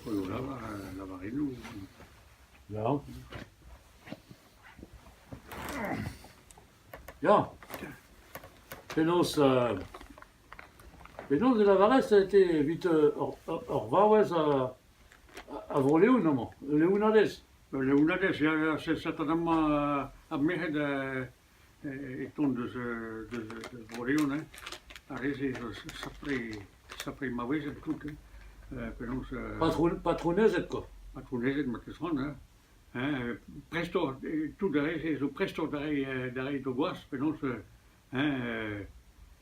Eo lavarennoù dit. Ya. Ya. Penaos euh, penaos e lavarez ez eo evit ur ur vaouez a Vro-Leon amañ, Leonadez? Leonadez, ya, ya, set amañ ar merc'hed e tont deus deus Orione. Ar re-se zo sapre- sapre maouezed tout, hein, penaos euh... Patron- patronezed koa. Patronezed, ma teus c'hoant, hein, hein, prestoc'h, tout ar re-se zo prestoc'h da reiñ da reiñ d'o gwaz, penaos, hein, euh...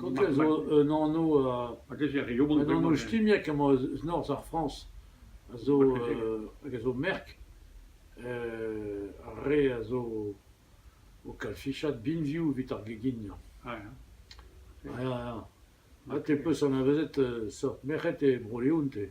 Kontez zo un anv a gever e Yobrou. Un anv skimiek emañ eus norzh ar Frañs, a zo hag a zo merk ar re a zo o kalfichat binvioù evit ar geginiañ. Ya, ya. Ha te 'peus anavezet seurt merc'hed e Bro-Leon te?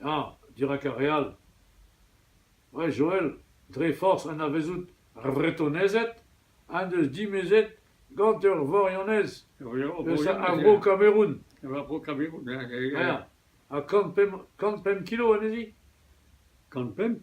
Ya, dirak ar re all. Ouais, Joël, dre forzh anavezout ar Vretonezed en deus dimezet gant ur Vorionez eus ar Bro-Kameroun. Ar Bro-Kameroun, ya, ya, ya. Ha kant pemp kant pemp kilo anezhi? Kant pemp?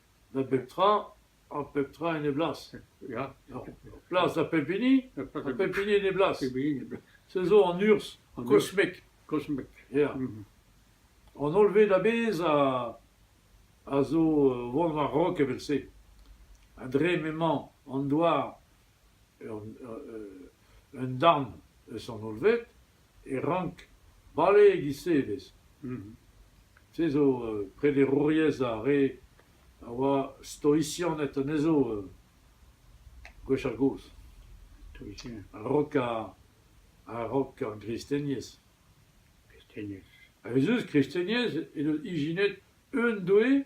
Da bep tra, ha pep tra en e blas, ya, plas da pep hini, ha pep hini en e blas. Se zo an urzh, kosmek, kosmek, ya. An holl ved a-bezh a, a zo o vont war-raok evel-se. Ha dre m'emañ an douar Un darn eus an hollved e rank bale e-giz-se ivez. Se zo prederouriezh ar re a oa stoisianed anezho gwechall-gozh. A-raok ar gristeniezh. A-wezhoù, kristeniezh he deus ijinet un doue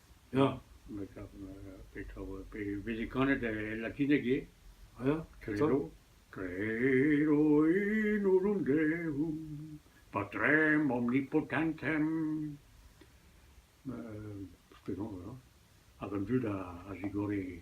Ya, me 'kav me 'kav pe veze kanet e latineg ivez, ya, treno, treno in olontevum, patrem omnipotentem, penaos, ya, hag an dud a zigore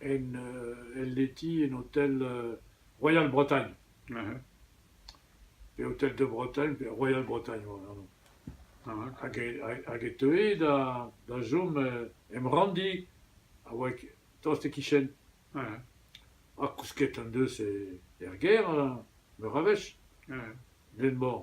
en el leti en hotel Royal-Bretagne. Pe Hotel de Bretagne pe Royal-Bretagne oa anv. Hag e hag e teue da da chom em ranndi a oa tost e-kichen. Ha kousket en deus er gêr meur a wech. N'en mañ.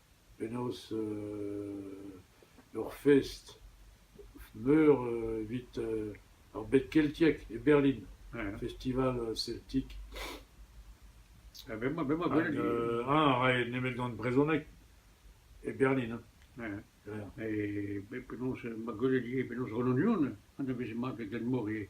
penaos ur fest meur evit ar bed keltiek e Berlin, festival celtic. Ha a rae nemet gant brezhoneg e Berlin. E penaos ma gwele ivez penaos Renan Lyon, anaveze mat e Glenmor ivez.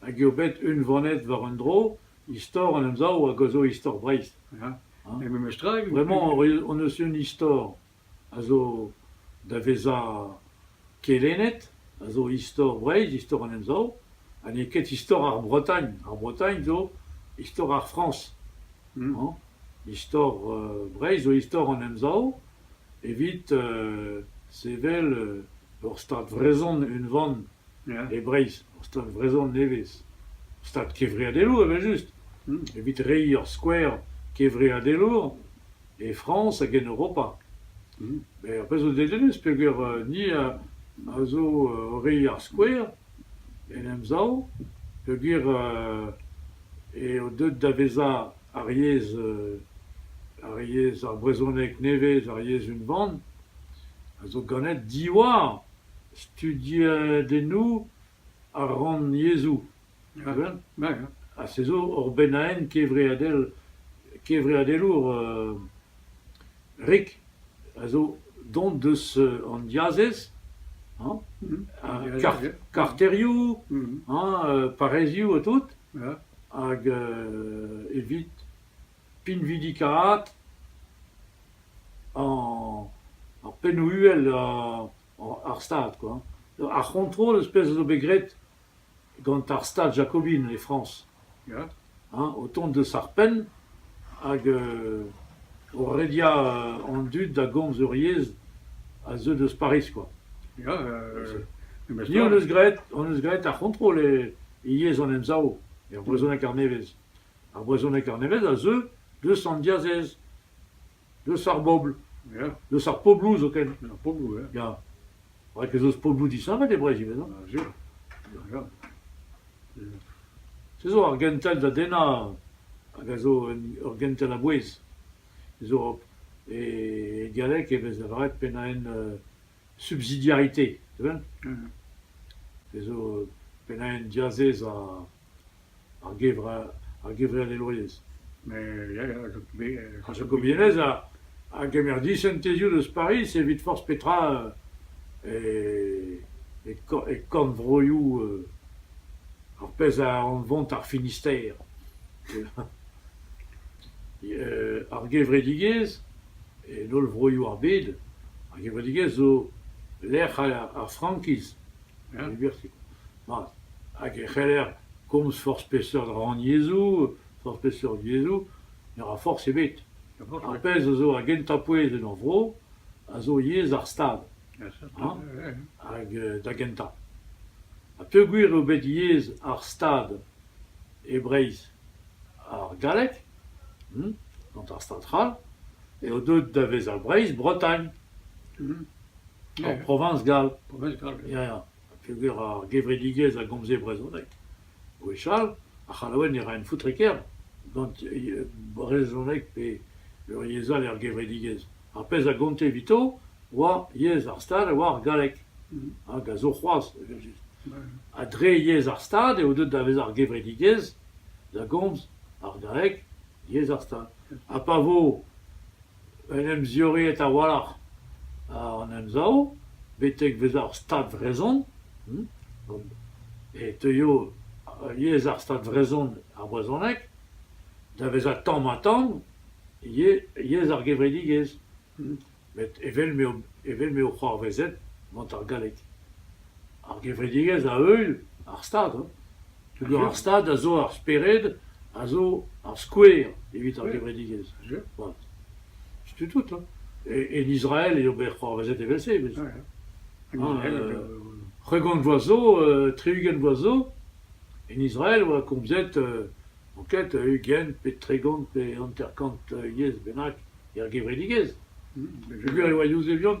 hag eo bet unvanet war un dro istor an Emsav hag a zo istor Breizh. Ha memestra, Bremañ hon eus un istor a zo da vezañ kelennet, a zo istor Breizh, istor an Emsav, ha n'eo ket istor ar Bretagne. Ar Bretagne zo istor ar Frañs. Istor Breizh zo istor an Emsav evit sevel ur Stad vrezhon unvan e Breizh. ur stad vrezhon nevez. Ur stad kevreadelour evel-just, evit reiñ ur skouer kevreadelour e Frañs hag en Europa. Met ur pezh zo dedennus peogwir ni a zo o reiñ ar skouer en Emsav peogwir eo deuet da vezañ ar yezh ar yezh ar brezhoneg nevez, ar yezh unvan, a zo ganet diwar Studiadennoù ar rannyezhoù ha se zo ur bennaenn kevreadel kevreadelour rik a zo dont deus an diazez hañ karterioù hañ parrezioù ha tout hag evit pinvidikaat ar pennoù-uhel ar Stad kwa. Ar c'hontrol eus pezh a zo bet graet gant ar Stad jakobin e Frañs ya, hañ, o tont deus ar penn hag o rediañ an dud da gomz ur yezh a zeu deus Pariz kwa. Ya, hon eus graet ar c'hontrol e yezh an Emsav, er brezhoneg arnevez. Ar brezhoneg-kaer nevez a zeu deus an diazez, deus ar bobl, ya, deus ar pobloù zoken. Ar pobloù, ya. Ya. Rak ez eus pobloù disheñvel e Breizh ivez, hañ? Sur. Ya, ya. Ya. Se zo ar gentel da dennañ hag a zo un, ur gentel a-bouez. Ez zo e dialek e vez lavaret pennaenn euh, subsidiarité, tu vois? Mmh. Ez zo pennaenn diazez ha ar gevre- ar gevrelelourez. Ar jakobianez a gemer disentezioù deus Pariz evit forzh petra e kornvroioù ar pezh a anvont ar Finistère. Ar gevredigezh, en holl vroioù ar bed, ar gevredigezh zo lec'h ar frankiz. Mat, hag e c'heller komz forzh peseurt rannyezhoù, forzh peseurt yezhoù, ne ra forzh ebet. Ar pezh a zo ar gentañ pouez en hor vro a zo yezh ar Stad, hag da gentañ. Ha peogwir eo bet yezh ar Stad e Breizh ar galleg, gant ar Stad c'hall, eo deuet da vezañ Breizh-Bretagne. En proviñs gall, proviñs gall ya ya, peogwir ar gevredigezh a gomze brezhoneg, gwechall ar C'hallaoued ne raent foutre ker gant brezhoneg pe yezh all er gevredigezh. Ar pezh a gonte evito oa yezh ar Stad a oa ar galleg, hag a zo c'hoazh evel-just. Ha dre yezh ar Stad eo deuet da vezañ ar gevredigezh da gomz ar galleg, yezh ar Stad. Ha pa vo En em ziorreet a-walc'h àr an Emsav betek bezañ ur Stad vrezhon e teuio yezh ar Stad vrezhon, ar brezhoneg, da vezañ tamm-ha-tamm yezh ar gevredigezh met evel m'eo evel m'eo c'hoarvezet gant ar galleg. Ar gevredigezh a-euil ar Stad. Peogwir ar Stad a zo ar spered, a zo ar skouer evit ar gevredigezh. Voilà. Setu tout, hein. E- en Israel eo bet c'hoarvezet evel-se. evel- Hein, euh, Tregont vloaz zo, euh, tri-ugent vloaz zo, en Israel oa komzet euh, anket euh, ugent pe tregont pe hanter-kant euh, yezh bennak er gevredigezh. Peogwir e oa Yuzevion